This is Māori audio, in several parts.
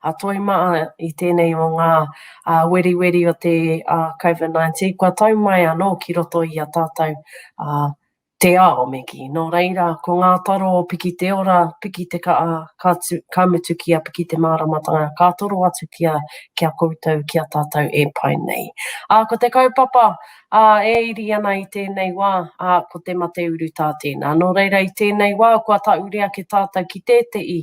a toi maa i tenei o ngaa weriweri o te COVID-19 kua tau mai anoo ki roto i a tatou te ao me kii. No reira, ko ngaa taro o piki te ora, piki te kaa, ka mutu ki a piki te maaramatanga, ka toro atu ki a koutou, ki a tatou e pai nei. Aa ko te kaupapa, Ā, e iri ana i tēnei wā, ā, ko te mate urutā tēnā. Nō reira, i tēnei wā, kua tāure ake tātou ki tētehi,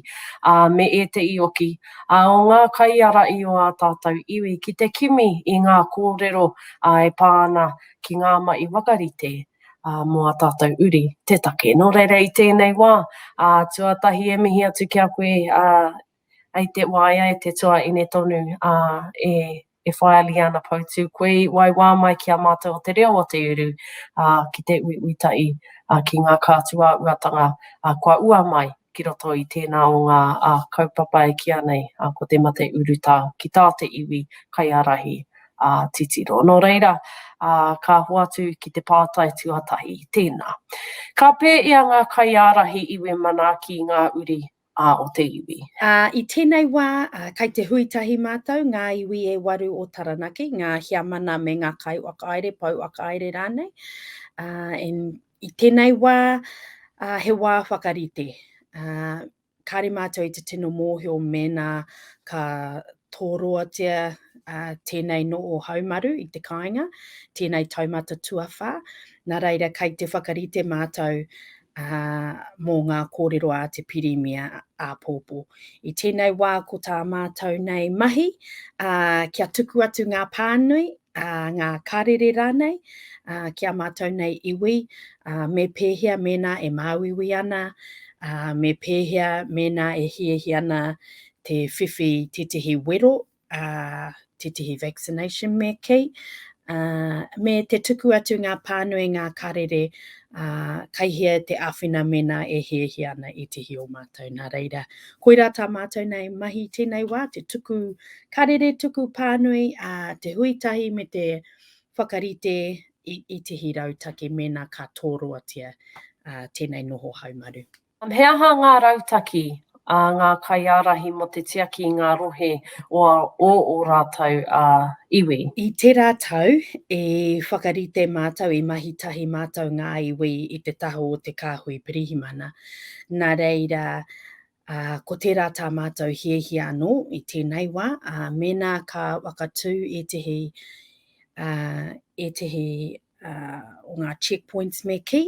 ā, me ētehi oki, ā, o ngā kaiārahi o ā tātou iwi, ki te kimi i ngā kōrero, ā, e pā ana ki ngā mahi whakarite, ā, mō ā tātou uri te take. Nō reira, i tēnei wā, ā, tuatahi e mihi atu ki a koe, ā, I te waea e te toa ine tonu, ā, e, e whai a Liana Poutu, koe i waiwā mai ki a mātou o te reo o te uru, ā, ki te uiui tahi, ā, ki ngā kātuāuatanga, ā, kua ua mai ki roto i tēnā o ngā, ā, kaupapa e kīa nei, ā, ko te mate urutā ki tā te iwi kaiārahi, ā, titiro. Nō reira, ā, ka hoatu ki te pātai tuatahi, tēnā. Ka pēia ngā kaiārahi iwi manaaki i ngā uri a o te iwi. Ā, i tēnei wā, kai te hui tahi mātou, ngā iwi e waru o Taranaki, ngā Heamana me ngā kaiwhakahaere, pouwhakahaere rānei, ā, and i tēnei wā, ā, he wā whakarite, ā, kāre mātou i te tino mōhio mēnā ka Toroatia tēnei nō ō haumaru i te kāinga, tēnei taumata tuawhā, nā reira kei te whakarite mātou mō ngā kōrero a te Pirimia āpōpō. I tēnei wā ko tā mātou nei mahi kia tuku atu ngā pānui, ngā karere rānei ki a mātou nei iwi, me pēhea mēnā e māuiui ana, me pēhea mēnā e hiahia ana te whiwhi tētehi wero, tētehi vaccination me kī, me te tuku atu ngā pānui, ngā karere, kai hea te āwhina mēnā e hiahia ana ētehi o mātou. Nā reira, koirā tā mātou nei mahi tēnei wā, te tuku karere, tuku pānui, te hui tahi me te whakarite i ētehi rautaki mēnā ka tōroatia tēnei noho haumaru. He aha ngā rautaki a ngā kaiārahi mō te tiaki i ngā rohe o ō rātou iwi? I tērā tau, i whakarite mātou, i mahi tahi mātou ngā iwi i te taha o te kāhui pirihimana. Nā reira, ko tērā tā mātou hiahia anō i tēnei wā, mēnā ka whakatū ētehi o ngā check points me kī,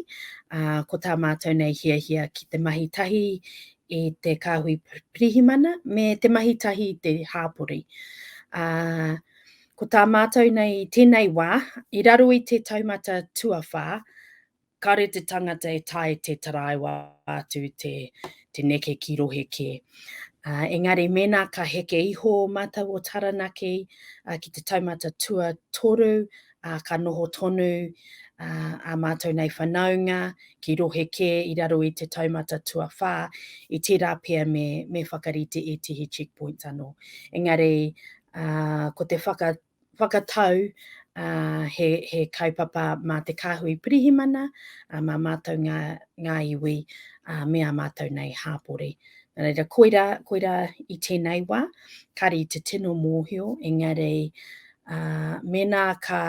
ko tā mātou nei hiahia ki te mahi tahi i te kāhui pirihimana me te mahi tahi i te hāpori. Uh, ko tā mātou nei tēnei wā, i raro i te taumata tuawhā, kare te tangata e tae te taraiwa atu te, te neke ki rohe kē. Uh, engari, mēnā ka heke iho mātou o Taranaki uh, ki te taumata tua toru, ā, ka noho tonu ā mātou nei whanaunga ki rohe kē i raro i te taumata tuawhā, i tērā pea me whakarite ētehi check points anō. Engari, ko te whakatau, he kaupapa mā te Kāhui Pirihimana, mā mātou ngā iwi me ā mātou nei hāpori. Nā reira, koirā i tēnei wā, kāre i te tino mōhio, engari, Ā, mēnā ka,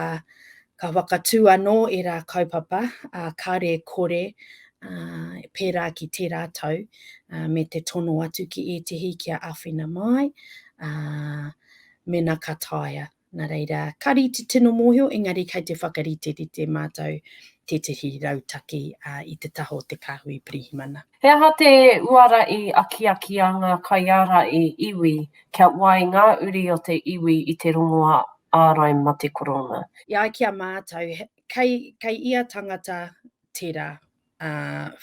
ka whakatū anō ērā kaupapa, ā, kāre e kore, ā, pērā ki tērā tau, ā, me te tono atu ki ētehi kia āwhina māi, ā, mēnā ka taea. Nā reira, ka rite tino mōhio, engari kei te whakariterite mātou tētehi rautaki, ā, i te taha o te kāhui pirihimana. He aha te uara i akiaki a ngā kaiāra i iwi kia wai ngā uri o te iwi i te rongoā ārai mate korona? E ai ki a mātou, kei ia tangata tērā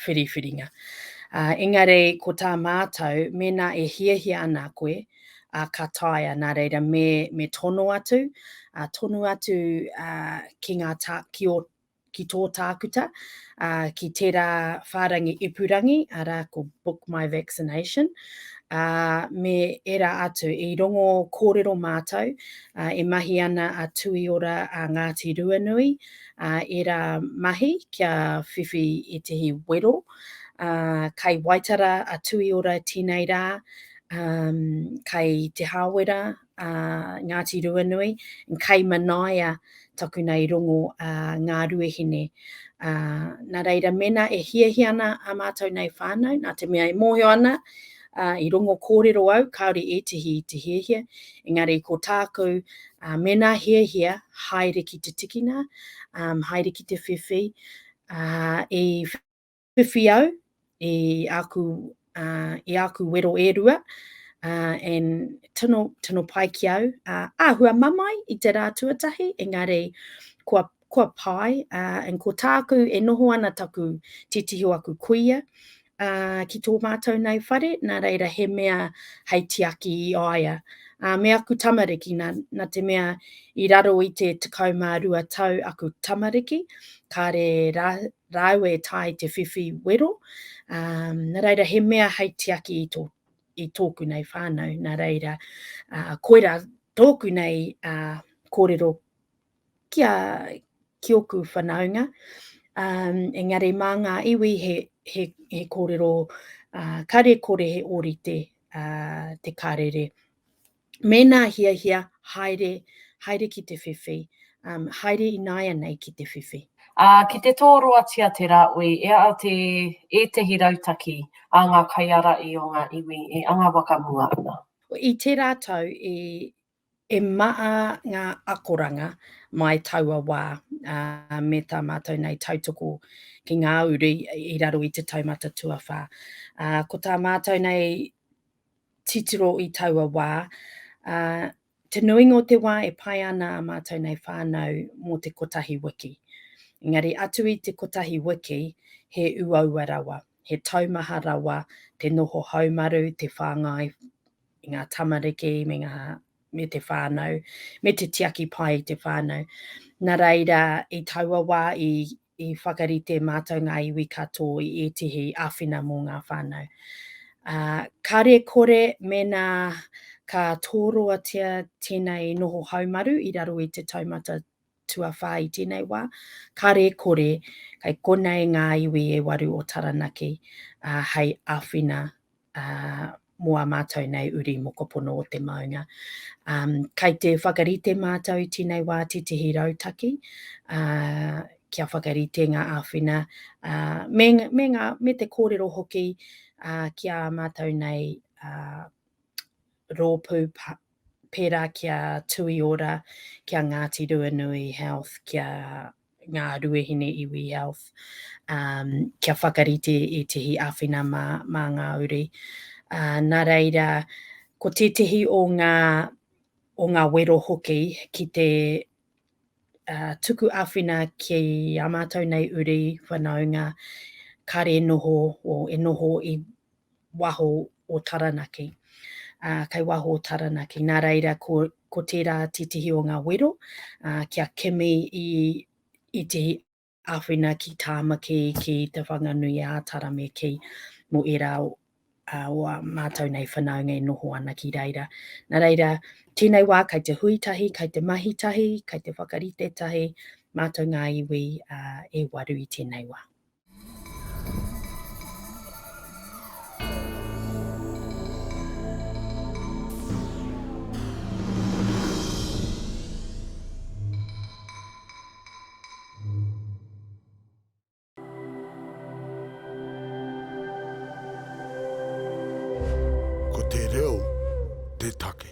whiriwhiringa. Engari ko tā mātou, mēnā e hiahia ana koe, ka taea, nā reira me tono atu, tonu atu ki ngā, ki ō ki tō tākuta, ā, ki tērā whārangi ipurangi, arā ko Book My Vaccination, ā, me ērā atu. I rongo kōrero mātou, ā, e mahi ana a Tuiora a Ngāti Ruanui, ā, ērā mahi kia whiwhi i tēhi wero, ā, kai Waitara a Tuiora tēnei rā, ā, kai Te Hāwera, a Ngāti Ruanui, and kei manaia taku nei rongo a Ngā Ruahine. A, nā reira, mēnā e hiahia ana a mātou nei whānau, nā te mea e mōhio ana, a, i rongo kōrero au, kāore ētehi i te hiahia, engari ko tāku, a, mēnā hiahia, haere ki te tikina, um, haere ki te whiwhi, a, i whiwhi au i āku, uh, i āku wero e rua, uh, and tino, tino pai ki au. Uh, āhua mamae i te rā tuatahi, engari kua, kua pai, uh, and ko tāku e noho ana taku titiho aku kuia, uh, ki tō mātou nei whare, nā reira he mea hei tiaki i aia. Uh, me aku tamariki, nā, nā te mea i raro i te tekau mā rua tau aku tamariki, kāre rā, rāua e tae te whiwhi wero, ā, nā reira he mea hei tiaki i tō, i tōku nei whānau, nā reira, ā, koirā tōku nei, ā, kōrero ki a, ki ōku whanaunga, ā, engari mā ngā iwi he, he, he kōrero, ā, kare kore he ōrite, ā, te Karere. Mēnā hiahia, haere, haere ki te whiwhi, haere ināianei ki te whiwhi. Ā, ki te tōroatia te rāoi, e āa te ētehi rautaki ā ngā kaiāraī o ngā iwi e anga whakamua ana. I tērā tau i, e maa ngā akoranga mai taua wā, ā, me tā mātou nei tautoko ki ngā uri i raro i te taumata tuawhā. Ā, ko tā mātou nei titiro i taua wā, ā, te nuinga o te wā e pai ana ā mātou nei whānau mō te kotahi wiki. Engari atu i te kotahi wiki, he uaua rawa, he taumaha rawa te noho haumaru, te whāngai i ngā tamariki me ngā, me te whānau, me te tiaki pai i te whānau. Nā reira, i taua wā i I whakarite mātou ngā iwi katō i ētehi āwhina mō ngā whānau. Ā, kare kore mēnā ka tōroatia tēnei noho haumaru i raro i te taumata tuawhā i tēnei wā, kare kore kei konei ngā iwi e waru o Taranaki, ā, hei āwhina mō a mātou nei uri mokopono o te maunga. Um, kei te whakarite mātou i tīnei wā titihi rautaki, uh, kia whakarite ngā āwhina, uh, me, me, ngā, me te kōrero hoki uh, ki a mātou nei uh, rōpū pērā ki a Tuiora, ki a Ngāti Ruanui Health, ki a Ngā Ruahine Iwi Health, um, kia whakarite ētehi āwhina mā, mā ngā uri. Uh, nā reira, ko tētehi o ngā, o ngā wero hoki ki te uh, tuku awhina ki a mātou nei uri whanaunga kare e noho o e noho i waho o Taranaki. Uh, kei waho o Taranaki. Nā reira, ko, ko tērā titihi o ngā wero uh, kia kimi i, i te āwhina ki Tāmaki, ki Te Whanganui a Tarameki mō ērā o o a mātou nei whanaunga e noho ana ki reira. Nā reira, tēnei wā kai te hui tahi, kai te mahi tahi, kai te whakarite tahi, mātou ngā iwi uh, e waru i tēnei wā. Ko te reo te take.